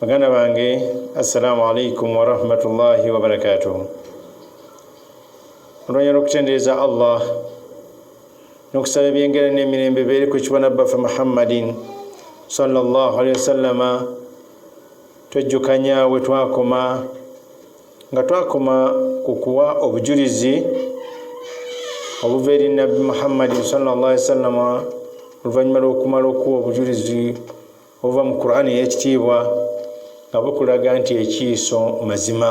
baganda bange assalamu alaikum warahmatullahi wabarakatuh olwanyala okutendereza allah nokusaba ebyengera nemirembe beeri ku kibona bbaffe muhammadin salllah alihi wasallama twejjukanya we twakoma nga twakoma ku kuwa obujulizi obuva eri nabbi muhammadin salllah ali wasallama oluvannyuma lwokumala okuwa obujulizi obuva mu qur'an eyekitiibwa nga bukulaga nti ekiiso mazima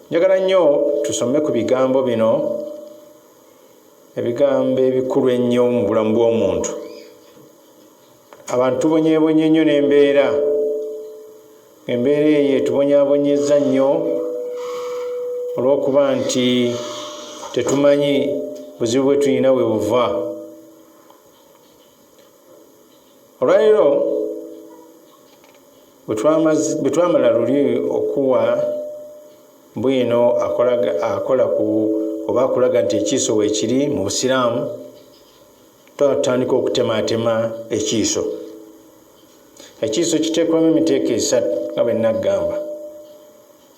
njagala nnyo tusome ku bigambo bino ebigambo ebikulu ennyo mu bulamu bw'omuntu abantu tubonyebonye nnyo n'embeera embeera eyo etubonyabonyeza nnyo olw'okuba nti tetumanyi buzibu bwe tulina we buva olwaleero bwe twamala luli okuwa bwino akola ku oba akulaga nti ekiiso weekiri mu busiraamu twatandika okutemaatema ekiiso ekiiso kiteekwamu emiteeko esatu nga bwe naggamba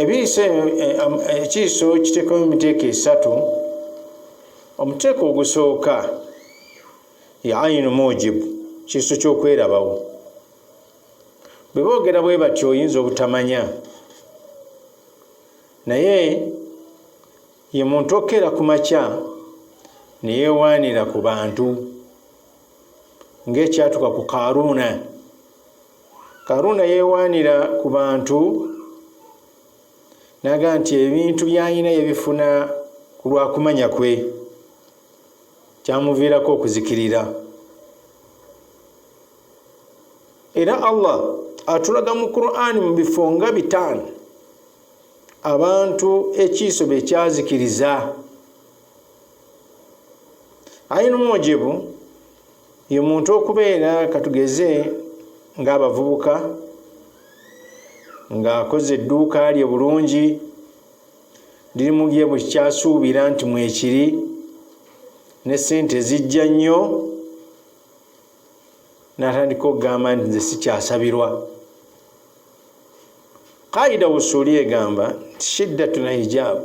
ebiiso ekiiso kiteekamu emiteeko esatu omuteeko ogusooka ya ayinu mujibu kiiso ky'okwerabawo bwe boogera bwe bati oyinza obutamanya naye ye muntu okkeera ku makya ne yeewaanira ku bantu ng'ekyatuka ku kaaruuna Karuuna yeewaanira ku bantu n'aga nti ebintu by'alina yabifuna ku lwa kumanya kwe kyamuviirako okuzikirira era allah atulaga mu qur'ani mu bifo nga bitaano abantu ekiiso bye kyazikiriza aina omujibu ye muntu okubeera katugeze ng'abavubuka ng'akoze edduuka lye bulungi lirimu bye bukyasuubira nti mwekiri ne ssente zijja nnyo n'atandika okugamba nti nze sikyasabirwa kaida wusuuli egamba nti shiddatuna hijaabu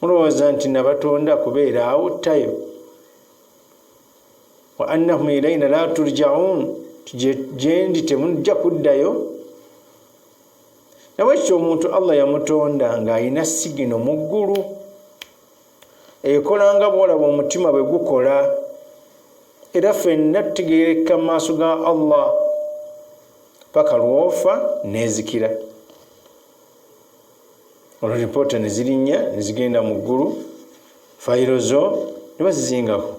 mulowooza nti nabatonda kubeera awo tayo wa annahum ilaina la turjaun gyendi temujja kuddayo nabwe kityo omuntu allah yamutonda ng'alina sigino mu ggulu ekola nga bwolaba omutima bwe gukola era fenna tutegerekka mu maaso ga allah paka lwofa nezikira olwo lipoota ne zirinnya ne zigenda mu ggulu fayiro zo ne bazizingako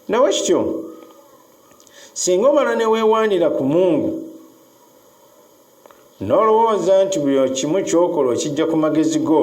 nawe kityo singa omala ne weewaanira ku mungu n'olowooza nti buli kimu kyokola okijja ku magezi go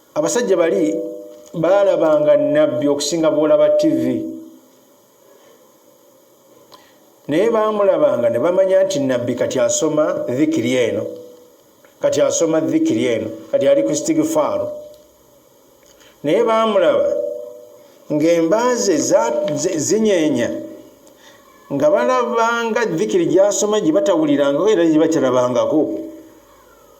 abasajja bali baalabanga nabbi okusinga bwolaba tivi naye baamulabanga ne bamanya nti nabbi kati asoma dhikiri eno kati asoma dhikiri eno kati ali ku stigifaaru naye baamulaba ng'embaaze zinyenya nga balabanga dhikiri gyasoma gye batawulirangako era gye bakirabangako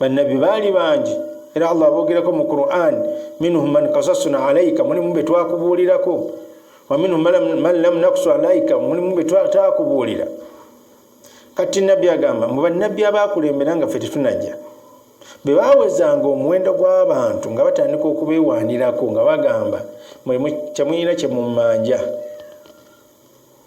bannabbi baali bangi era allah aboogerako mu quran minhum man kasasuna alaika mulimu be twakubuulirako wa minhum man lam nakusu alaika mulimu be twakubuulira kati nabbi agamba mu bannabbi abaakulembera nga fe tetunajja bwe bawezanga omuwendo gw'abantu nga batandika okubeewaanirako nga bagamba mwe kyemuyina kye mumanja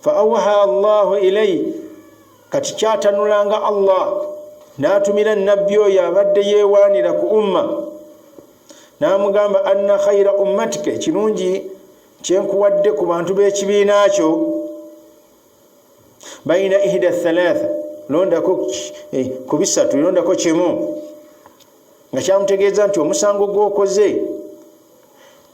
fa awha llahu ilai kati kyatanulanga allah n'atumira nabbi oyo abadde yeewaanira ku umma n'amugamba anna khaira ummatika ekirungi kyenkuwadde ku bantu b'ekibiina kyo baina ihda thalatha londako eh, ku bisatu londako kimu nga kyamutegeeza nti omusango gwokoze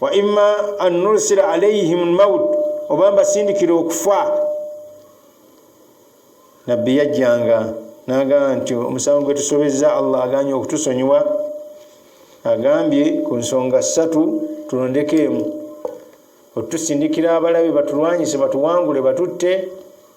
wa imma an nursila alaihim lmaut oba mbasindikira okufa nabbi yajjanga nagamba nti omusango gwe tusobezza allah aganye okutusonyiwa agambye ku nsonga ssatu tulondeko emu otusindikira abalabe batulwanyise batuwangule batutte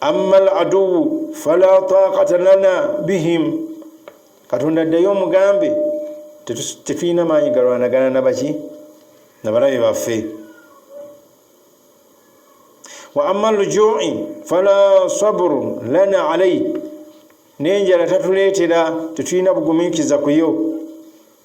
amma al aduwu fala taqata lana bihim katonda addayo omugambe tetulina maanyi galwanagana nabaki nabalabe baffe wa amma lujui fala sabru lana alai nenjala tatuleetera tetulina bugumiikiza kuyo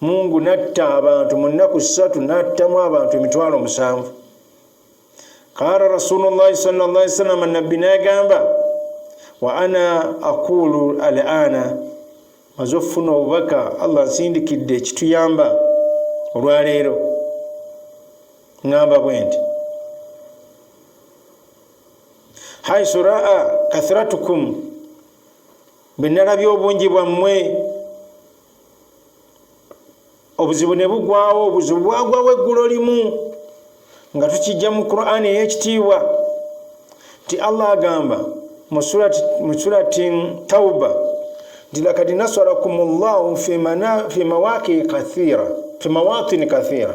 mungu natta abantu mu nnaku ssatu n'attamu abantu emitwalo musanvu qaala rasulullahi salllah salama nabbi nagamba wa ana aquulu al ana maze okufuna obubaka allah nsindikidde ekituyamba olwaleero ŋamba bwe nti haisu raa kathratukum bwe nalabye obungi bwammwe obuzibu ne bugwawo obuzibu bwagwawo eggulo limu nga tukijja mu qur'an ey'ekitiibwa nti allah agamba mu surati tauba nti lakad nasarakum llahu fi mawatini kathira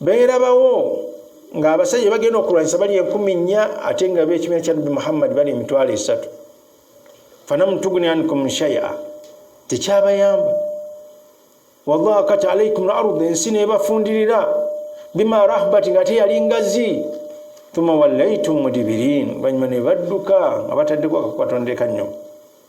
beerabawo ng'abasajja bagenda okulwanyisa bali enkumi nnya ate nga beekibiina kya nabbi muhammadi bali emitwalo esatu fanamutuguni ankum shaya tekyabayamba wadhakat alaikum lardi ensi nebafundirira bima rahbati nga ate yali ngazi tuma wallaitum mudibirin oluvanyuma nebadduka nga bataddeko akakwatondeka nnyo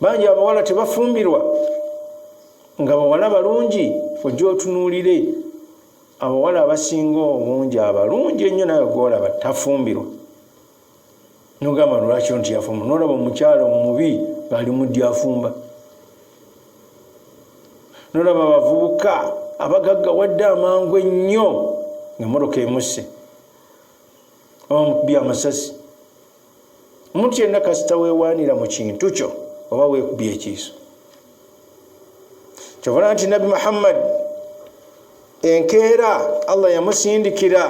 bangi abawala tebafumbirwa nga bawala balungi ojja otunuulire abawala abasinga obungi abalungi ennyo nawe gwolaba tafumbirwa nogamba lwaki nti yafumba nolaba omukyalo omubi ngaali muddi afumba nolaba abavubuka abagagga wadde amangu ennyo ngaemmotoka emusse oba mukubye amasasi omuntu yenna kasita wewaanira mu kintu kyo oba weekubya ekiiso kyovala nti nabbi muhammadi enkeera allah yamusindikira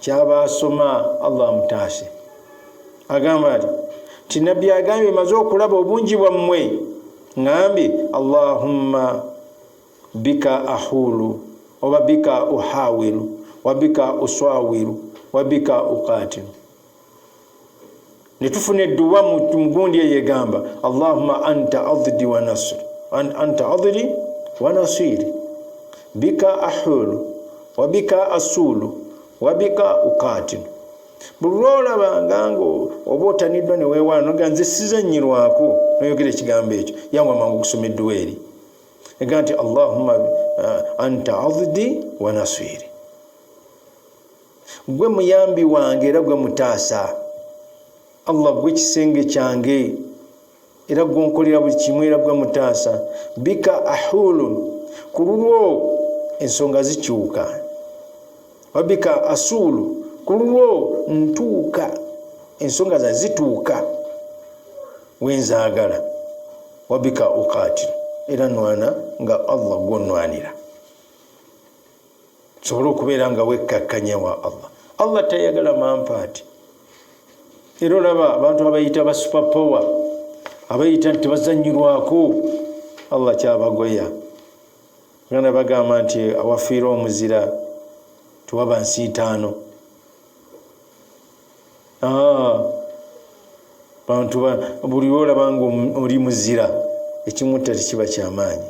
kyaba asoma allah amutaase agamba ti nti nabbi agambye maze okulaba obungi bwammwe ngambye allahumma bika ahulu oba bika uhawilu wabika uswawilu wabika ukatilu ne tufuna edduwa mu gundi eyo egamba allahuma anta addi wa nasiri anta adiri wa nasiri bika ahulu wa bika asulu wa bika ukatinu buli lwolabanga nga oba otaniddwa ne weewaana noga nze sizanyirwako noyogera ekigambo ekyo yawa mangu okusoma edduwa eri ega nti allahuma eh, anta addi wa nasiri gwe muyambi wange era gwe mutaasa allah gwe kisenge kyange era gwonkolera buli kimu era gwe mutaasa bika ahulun ku lulwo ensonga zikyuka wabika asuulu ku lulwo ntuuka ensonga za zituuka wenzaagala wabika ukaatiro era nwana nga allah gwonwanira tusobole okubeera nga wekkakkanya wa allah allah tayagala mampaati era olaba abantu abayita ba super power abayita nti tebazanyirwako allah kyabagoya gana bagamba nti awafiire omuzira tewaba nsiitaano ah, bantu buli olaba nga oli muzira ekimutta tekiba kyamaanyi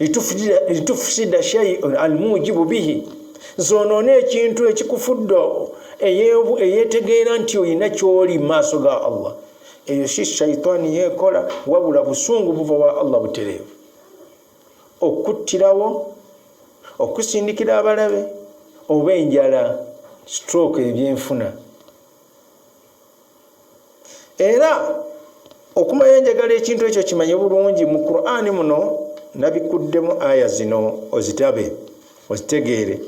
litufusida shaiun almujibu bihi zonoona ekintu ekikufudde eyetegeera nti olina kyoli maaso ga allah eyo si shaitaani yeekola wabula busungu buva wa allah butereevu okuttirawo okusindikira abalabe oba enjala stroke ebyenfuna era okumanya enjagala ekintu ekyo kimanye bulungi mu qurani muno nabikuddemu aya zino ozitabe ozitegeere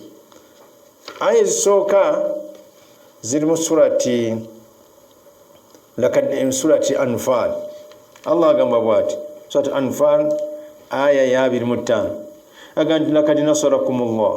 aya ezisooka ziri mu surati surati anfal allah agamba bwati surati anfal aya ya 25 agamba nti lakad nasarakum llah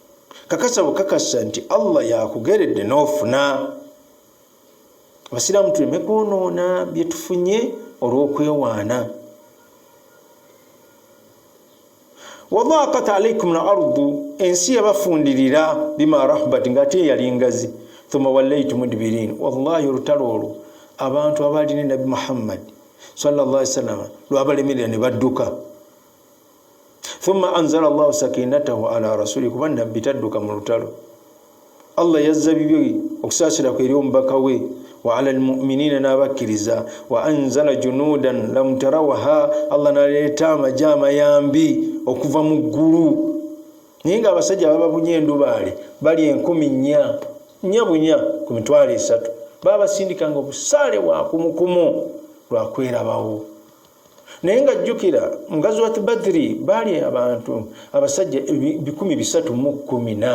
kakasa bukakasa nti allah yakugeredde n'ofuna abasiraamu tuleme kwonoona byetufunye olw'okwewaana wadhaqat alaikum lardu ensi yabafundirira bima rahbat nga ate eyali ngazi thumma wallaitu mudbirin wallahi olutalo olwo abantu abaali ne nabbi muhammadi sallallahu alaihi wasallama lwabalemerera ne badduka thumma anzala allahu sakinatahu ala rasuli kuba nabbi tadduka mu lutalo allah yazza bibye okusaasira kwe eri omubaka we wa ala almuminina n'abakkiriza wa anzala junudan lam tarawaha allah naleeta amaje amayambi okuva mu ggulu naye nga abasajja bababunye endubaale bali enkumi nnya nnya bunya ku mitwalo esatu babasindikanga obusaale bwa kumukumu lwakwerabawo naye nga jjukira mu gazuwati badiri baali abantu abasajja bikumi bisatu mu kumi na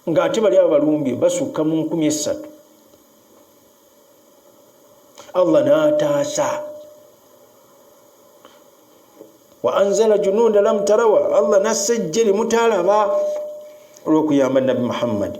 ng'ate bali abo balumbye basukka mu nkumi essatu allah n'ataasa wa anzala junuuda lam tarawa allah nassa ejje limutaalaba olw'okuyamba nabbi muhammadi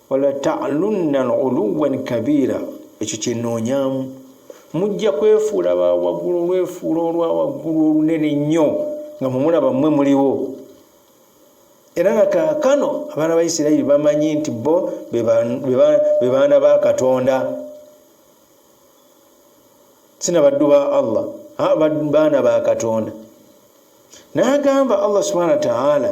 wala talunna uluwan kabira ekyo kyenoonyamu mujja kwefuula bawaggulu olwefuula olwa waggulu olunene nnyo nga mumulaba mmwe muliwo era nga kaakano abaana ba isirairi bamanyi nti bo be baana ba katonda sina baddu ba allah baana ba katonda naagamba allah subhana wataala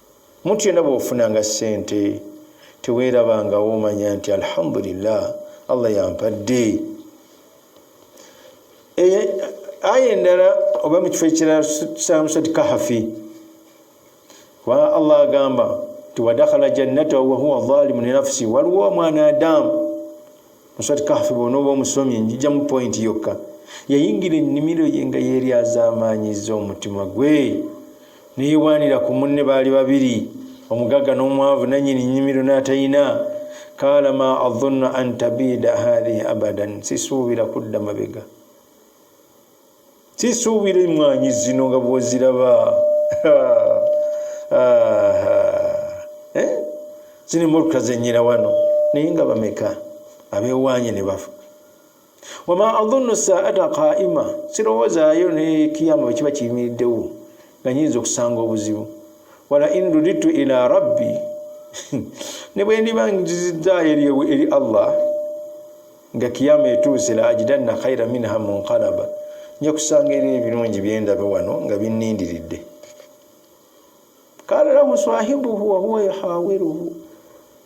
Omuntu yena bwofunanga sente tewerabangawo omanya nti alhamdulillah Allah yampadde. Eye aya endala oba mu kifo ekirala tusanga musati kahafi kubanga allah agamba nti wadakhala jannatahu wahuwa zalimu linafsi waliwo omwana adamu Muswat Kahfi bw'onooba omusomye njijamu pointi yokka. Yayingira ennimiro ye nga yeeryazaamaanyizza omutima gwe ne yeewaanira ku munne baali babiri, omugagga n'omwavu, nannyini nnimiro n'atalina. Qaala ma adhunnu an tabiida haadhihi abadan, sisuubira kudda mabega. sisuubira emmwanyi zino nga bwoziraba eh? zino emmotoka zenyira wano naye nga bameka abewaanye ne bafa wama adhunnu saata qaima sirowoozaayo ne kiyama bwe kiba kiyimiriddewo nga nyinza okusanga obuzibu wala in ruditu ila rabbi ne bwe ndiba nziziddaayo eri allah nga kiyama etuuse la ajidanna khaira minha munqalaba nja kusanga era ebirungi byendaba wano nga binnindiridde kala lahu sahibuhu wahuwa yahawiruhu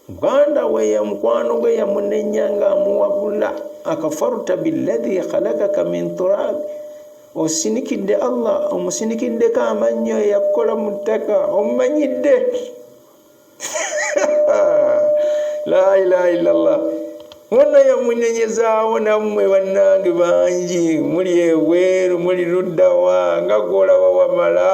muganda we ya mukwano gwe yamunenya nga amuwabula akafarta biladhi khalakaka min turabi osinikidde allah omusinikiddeko amannyo eyakukola mu ttaka omumanyidde la ilaha illallah wonna yamunenyezawo nammwe bannange bangi muli ebweru muli luddawa nga gwolaba wamala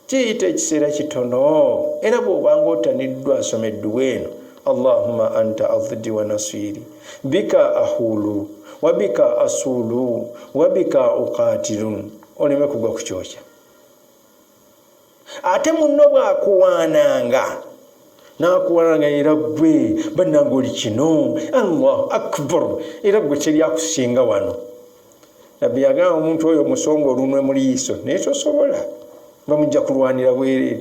kiyita ekiseera kitono era bwobanga otaniddwa asoma edduwa eno allahuma anta afdi wa nasiri bika ahulu wabika asulu wabika uqatilu oleme kugwa ku kyokya ate munno bwakuwaananga nakuwaananga era gwe bannanga oli kino allahu akbar era gwe teryakusinga wano nabbi yagamba omuntu oyo musonga olunwe mu liiso naye tosobola bamujja kulwanira bwereere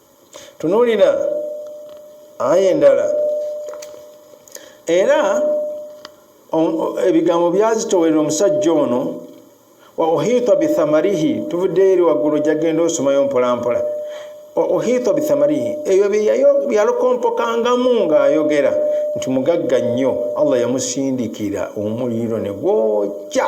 tunuulira aya endala era ebigambo byazitowera omusajja ono wa uhita bithamarihi tuvuddeyo eri waggulu jagenda osomayo mpolampola wa uhita bithamarihi ebyo byeyalokompokangamu ng'ayogera nti mugagga nnyo allah yamusindikira omuliro ne gwokya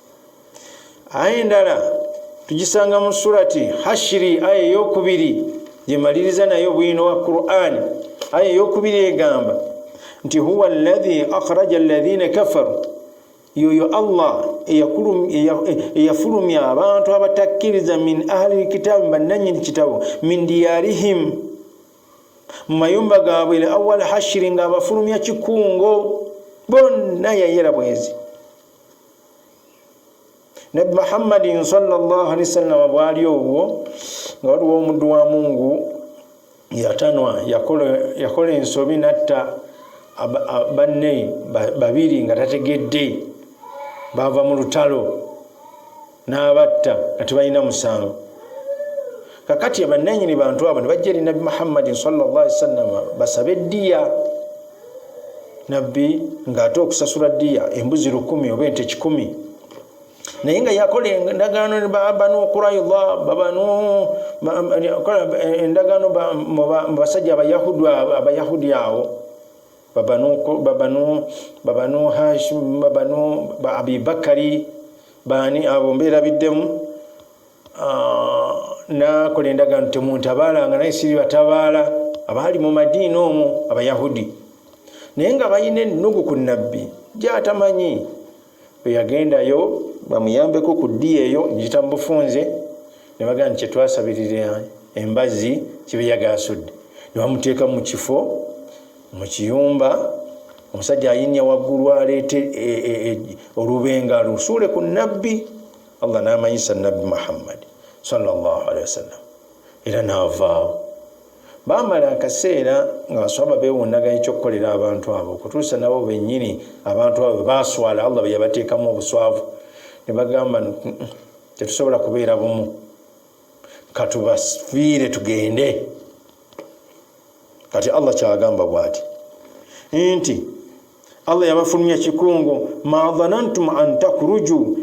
aya endala tugisanga mu surati hashiri aya eyokubiri gyemaliriza naye obwino wa quran aya eyokubiri egamba nti huwa ladhi akhraja alladhina kafaru yoyo allah eyafulumya abantu abatakkiriza min ahli lkitaabi bannanyini kitabo min diyarihim mu mayumba gaabwe le awal hashiri ng'abafulumya kikungo bonna yayera bwezi nabbi muhammadin salllah alihi wasallama bwali obwo nga waliwo omuddu wa mungu yatanwa yakola ensobi natta banne babiri nga tategedde baava mu lutalo n'abatta nga tebalina musango kakati abannanyini bantu abo ne bajja eri nabbi muhammadin salllah ali wasallama basabe ddiya nabbi ng'ate okusasula ddiya embuzi lukumi oba ente kikumi naye nga yakola endagaano banu kuraidha babanu endagaano mubasajja abayahudi abayahudi awo babanu babanu babanu hashim babanu abibakari baani abo mbeerabiddemu ah, nakola endagaano temuntabaalanga naye siri batabaala abaali mu madiini omwo abayahudi naye nga balina ennugu ku nabbi gyatamanyi eyagendayo bamuyambeko ku ddi eyo njita mu bufunze ne bagamba nti kyetwasabirira embazi kibeyagasudde ne bamuteeka mu kifo mu kiyumba omusajja ayinya waggulu aleete e, e, e, olubenga lusuule ku nabbi allah n'amanyisa nabbi muhammadi salllahalihi wasallam era n'avaawo bamala akaseera nga baswaba bewunaganya ekyokukolera abantu abo okutuusa nabo bennyini abantu abo baswala allah beyabateekamu obuswavu ne bagamba tetusobola kubeera bumu katubafiire tugende kati allah kyagamba bwati nti allah yabafulumya kikungu ma dhanantum an takruju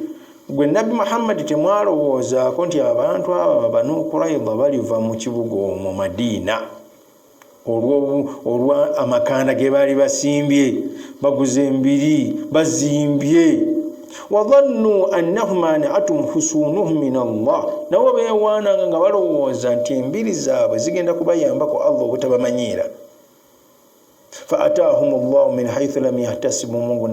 gwe nabbi muhammadi temwalowoozaako nti abantu abo banukurayidha baliva mu kibuga omwo madiina olwa amakanda ge baali basimbye baguze embiri bazimbye wadhannu annahum anatum husunuhum min allah nabo beewaananga nga balowooza nti embiri zaabwe zigenda kubayambako allah obutabamanyiira fa ataahum llahu min haithu lam yahtasibu mungu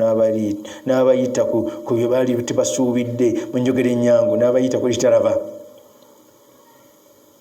n'abayita ku bye baali tebasuubidde mu njogera ennyangu n'abayita ku litalaba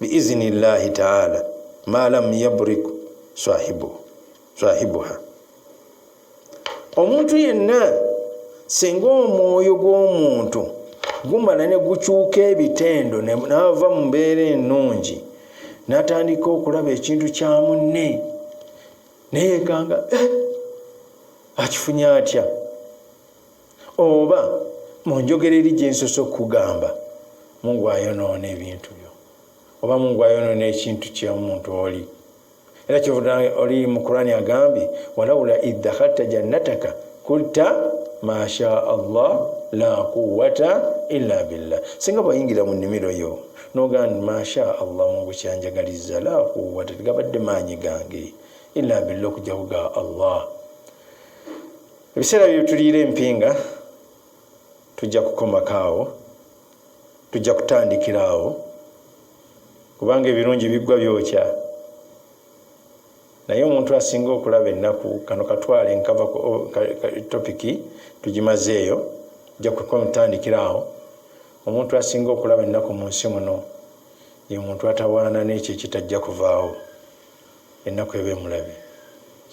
biizini llahi taala ma lam yabrik swahibuha omuntu yenna singa omwoyo gw'omuntu gumala ne gukyuka ebitendo naava mu mbeera ennungi natandika okulaba ekintu kya munne neyekanga eh, akifunye atya oba mu njogera eri gye nsoose okukugamba mungu ayonoona ebintu byo oba mungu ayonoona ekintu kyomuntu oli era kyovuda oli mu kurani agambye walaula idakhalta jannataka kulta masha allah la quwata illa billah singa bwayingira mu nimiro yo nogandi masha allah mungu kyanjagaliza la quwata tegabadde maanyi gange illa billah okujakuga allah ebiseera bye tuliira empinga tujja kukomako awo tujja kutandikira awo kubanga ebirungi biggwa byokya naye omuntu asinga okulaba ennaku kano katwale nkava topiki tugimazeeyo ja kutandikira awo omuntu asinga okulaba ennaku mu nsi muno ye muntu atawaana n'ekyo ekitajja kuvaawo ennaku eba emulabe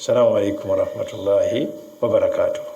salamu alaikum warahmatullahi wabarakatuh